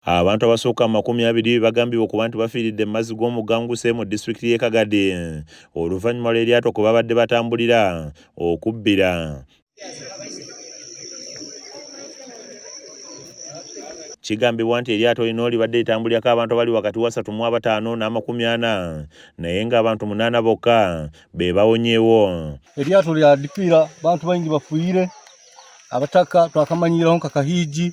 Abantu abasukka mu makumi abiri be bagambibwa okuba nti bafiiridde mu mazzi g'omugga Nguse mu disitulikiti y'e Kagadi oluvannyuma lw'eryato kwe babadde batambulira okubbira. Kigambibwa nti eryato lino libadde litambulirako abantu abali wakati wasatu mu abataano n'amakumi ana naye ng'abantu munaana bokka be bawonyeewo. Eryato lya dipiira bantu baingi bafuire abataka twakamanyiiraho nka Kahiigi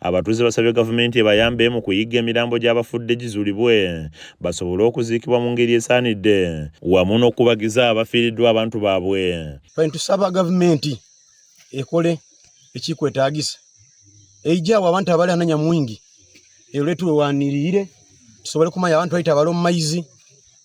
Abatuuze basabye gavumenti ebayambe mu kuyigga emirambo gy'abafudde gizuulibwe basobole okuziikibwa mu ngeri esaanidde wamu n'okubagiza abafiiriddwa abantu baabwe. Kati tusaba gavumenti ekole ekikwetaagisa eijawo abantu abali ananya mwingi eruletuwewanirire tusobole kumanya abantu baita abali omumaizi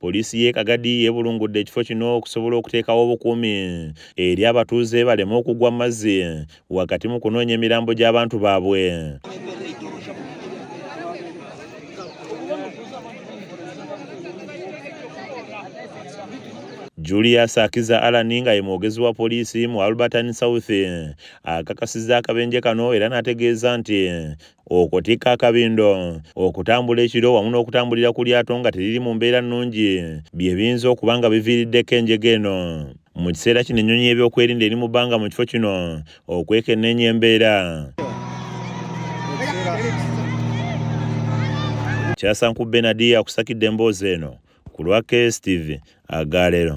Poliisi y'e Kagadi yeebulungudde ekifo kino okusobola okuteekawo obukuumi eri abatuuze baleme okugwa mu mazzi wakati mu kunoonya emirambo gy'abantu baabwe. Julius Akiza Alani nga ye mwogezi wa poliisi mu Albertine South akakasizza akabenje kano era n'ategeeza nti okutikka akabindo okutambula ekiro wamu n'okutambulira ku lyato nga teriri mu mbeera nnungi bye biyinza okuba nga biviiriddeko enjega eno mu kiseera kino ennyonyi y'ebyokwerinda eri mu bbanga mu kifo kino okwekenneenya embeera kyasanku benadi akusakidde emboozi eno ku lwa kstv agaleero